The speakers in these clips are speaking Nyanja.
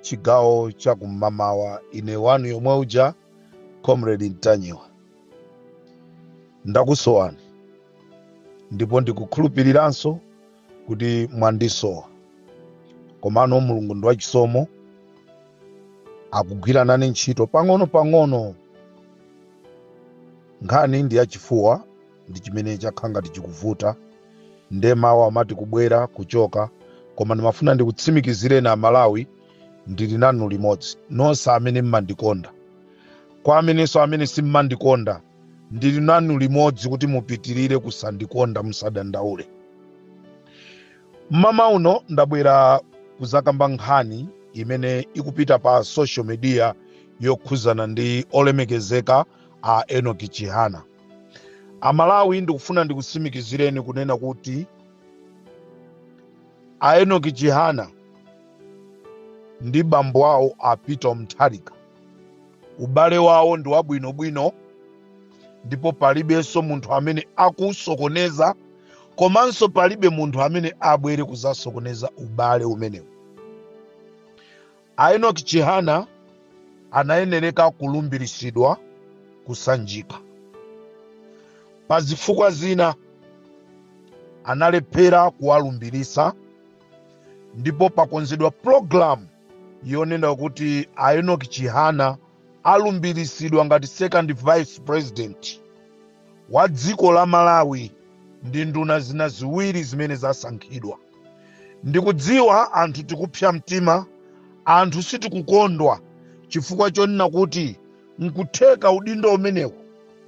chigawo cha kummamawa ine wanu yomwe uja comrade Ntanyiwa ndakusowani ndipo ndikukhulupiriranso kuti mwandisowa komano mulungu ndi wachisomo akugwira nane ntchito pang'ono pang'ono nkhani ndi yachifuwa ndi chimene chakhala ngati chikuvuta nde mawu amati kubwera kuchoka koma ndimafuna ndikutsimikizireni amalawi ndili nanu limodzi nonse amene mmandikonda kwa amenenso amene simmandikonda ndili nanu limodzi kuti mupitirire kusandikonda musadandaule mmawa uno ndabwera kuzakamba nkhani imene ikupita pa social media yokhuzana ndi olemekezeka a enoki chihana amalawi ndikufuna ndikutsimikizireni kunena kuti a enoki chihana ndi bambo awo a peter mtharika ubale wawo ndi wabwinobwino ndipo palibenso munthu amene akusokoneza komanso palibe munthu amene abwere kuzasokoneza ubale umenewu A Enoch Chihana anayenereka kulumbiritsidwa ku Sanjika. Pa zifukwa zina analephera kuwalumbiritsa ndipo pakonzedwa pulogalamu yonena kuti a Enoch Chihana alumbiritsidwa ngati second vice president wa dziko la Malawi ndi nduna zina ziwiri zimene zasankhidwa. Ndikudziwa anthu tikupsa mtima, anthu sitikukondwa chifukwa chonena kuti n'kutheka udindo umenewu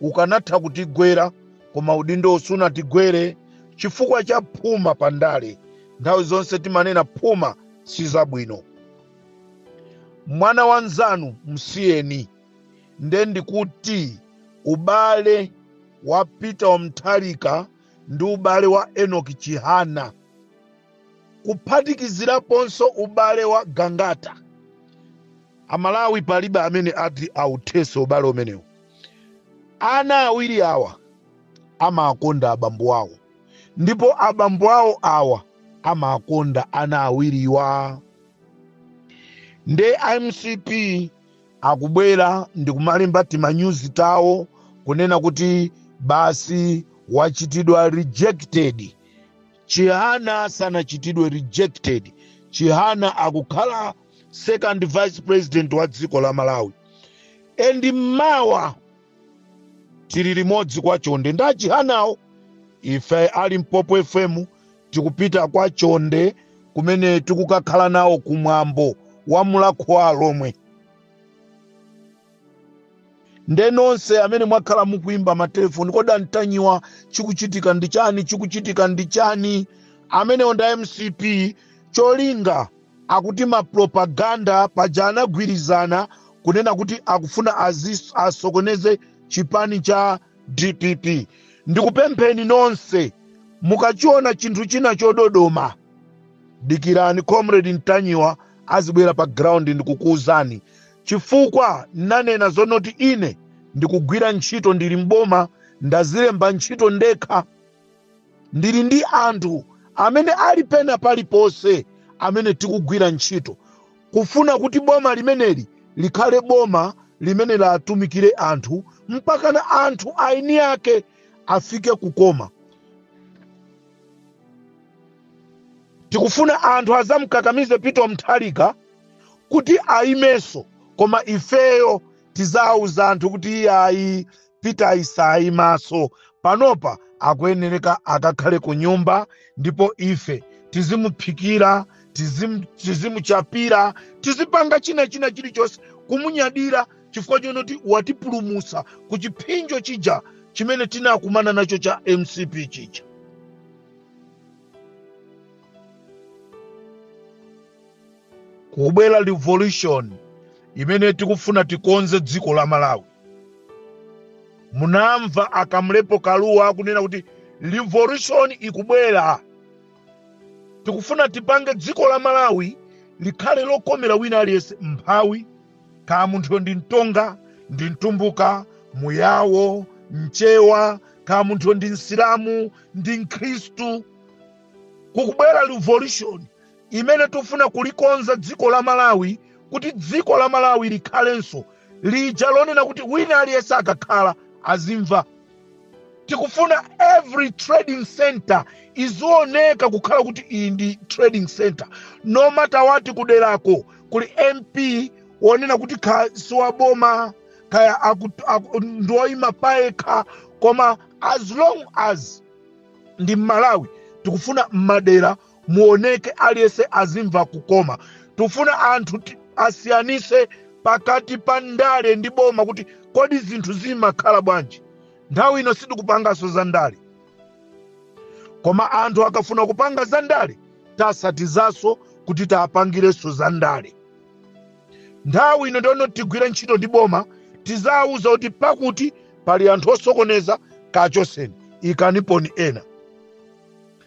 ukanatha kutigwera koma udindowu sunatigwere chifukwa cha phuma pa ndale. Nthawi zonse timanena phuma si zabwino. Mwana wa mnzanu msiyeni. Nde ndikuti ubale wa Peter Mutharika ndi ubale wa Enock Chihana kuphatikiziraponso ubale wa Gangata. Amalawi palibe amene ati authetse ubale umenewu. Ana awiri awa amakonda abambo awo ndipo abambo awo awa amakonda ana awiriwa. Nde mcp Akubwera ndikumalemba timanyuzi tawo kunena kuti basi wachitidwa rejected. Chihana sanachitidwe rejected. Chihana akukhala second vice president wa dziko la Malawi. And mmawa tili limodzi kwa chonde ndi achihana wo ife a Limpopo FM tikupita kwa chonde kumene tikukakhala nawo kumwambo wa Mulhako wa Alhomwe nde nonse amene mwakhala mukuimba matelefoni kodi antanyiwa chikuchitika ndi chani chikuchitika ndi chani amenewo nda mcp cholinga Akuti ma propaganda paja anagwirizana kunena kuti akufuna azis, asokoneze chipani cha dpp. Ndikupempheni nonse mukachiona chinthu china chododoma dikirani comrade Ntanyiwa azibwera pa ground ndikukuuzani chifukwa ndanena zonoti ine ndikugwira ntchito ndili m'boma ndazilemba ntchito ndekha ndili ndi anthu amene ali pena paliponse amene tikugwira ntchito kufuna kuti boma limeneli likhale boma limene litumikire anthu mpakana anthu eni ake afike kukoma tikufuna anthu azamkakamize Peter Mutharika kuti ayimenso koma ifeyo tizawuza anthu kuti iyayi peter asaimenso panopa akuyenereka akakhale ku nyumba ndipo ife tizimuphikira tizim- tizimuchapira tizipanga china china chilichonse kumunyadira chifukwa chonoti watipulumusa ku chipsinjo chija chimene tinakumana nacho cha mcp chija kukubwera revolution imene tikufuna tikonze dziko la malawi munamva akamlepo kaluwa akunena kuti revolution ikubwera tikufuna tipange dziko la malawi likhale lokomera wina aliyense mphawi kaya munthuyo ndi mtonga ndi mtumbuka muyawo mchewa kaya munthuyo ndi msilamu ndi mkhristu kukubwera revolution imene tufuna kulikonza dziko la malawi kuti dziko la malawi likhalenso lija lonena kuti wina aliyense akakhala azimva tikufuna every trading center izioneka kukhala kuti iyi ndi trading center no matter what kuderako kuli mp wonena kuti kaya siwaboma kaya aku- aku- ndioyima payekha koma as long as ndi mmalawi tikufuna mmadera muoneke aliyense azimva kukoma tikufuna anthu ti- asiyanise pakati pa ndale ndi boma kuti kodi zinthu zimakhala bwanji nthawi ino sitikupanganso za ndale koma anthu akafuna kupanga za ndale tasatizanso kuti tapangirenso za ndale nthawi ino ndono tigwire ntchito ndi boma tizawuza kuti pakuti pali anthu osokoneza kachoseni ikaniponi ena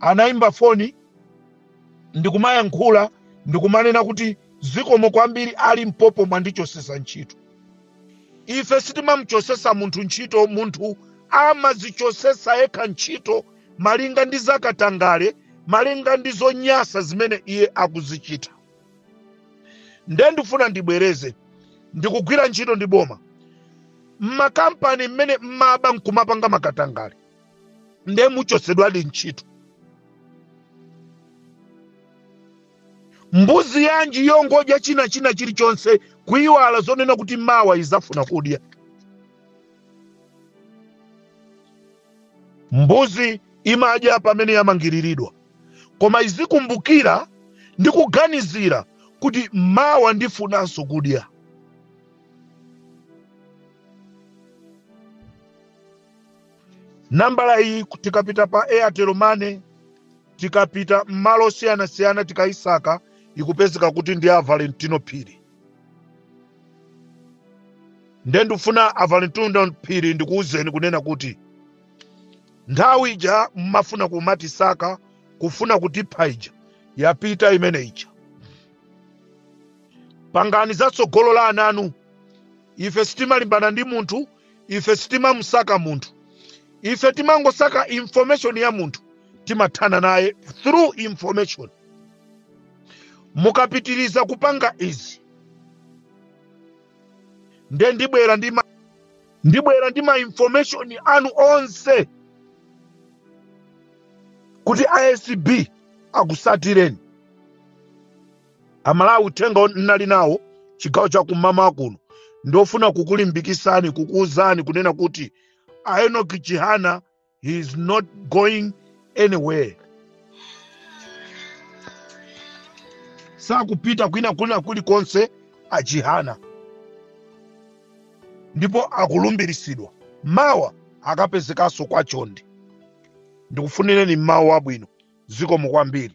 anaimba foni ndikumayankhula ndikumanena kuti zikomo kwambiri a Limpopo mwandichosesa ntchito ife sitimamuchosesa munthu ntchito munthu amazichosesa yekha ntchito malinga ndi zakatangale malinga ndi zonyasa zimene iye akuzichita nde ndifuna ndibwereze ndikugwira ntchito ndi boma mmakampani mmene mmaba nkumapanga makatangale nde muchosedwadi ntchito mbuzi yanji yongodya china china chilichonse kuiwala zonena kuti mawa izafuna kudya mbuzi imadya pamene yamangiriridwa koma izikumbukira ndi kuganizira kuti mawa ndifunanso kudya nambala iyi tikapita pa airtel money tikapita m'malo siyanasiyana tikayisaka ikupezeka kuti ndi a valentino phiri nde ndifuna a valentino phiri ndikuwuzeni kunena kuti nthawi ija mmafuna kumatisaka kufuna kutipha ija yapita imene ija pangani zatsogolo la ananu ife sitimalimbana ndi munthu ife sitimamusaka munthu ife timangosaka information ya munthu timathana naye through information mukapitiriza kupanga izi nde ndibwera ndi ma- ndibwera ndi ma information anu onse kuti acb akusatireni amalawi uthenga won- nnali nawo chigawo cha kumama kuno ndofuna kukulimbikisani kukuuzani kunena kuti a enoki chihana he is not going anywhere sakupita kwina kwina kulikonse achihana ndipo akulumbirisidwa mawa akapezekanso kwa chonde ndikufunireni mawa abwino zikomo kwambiri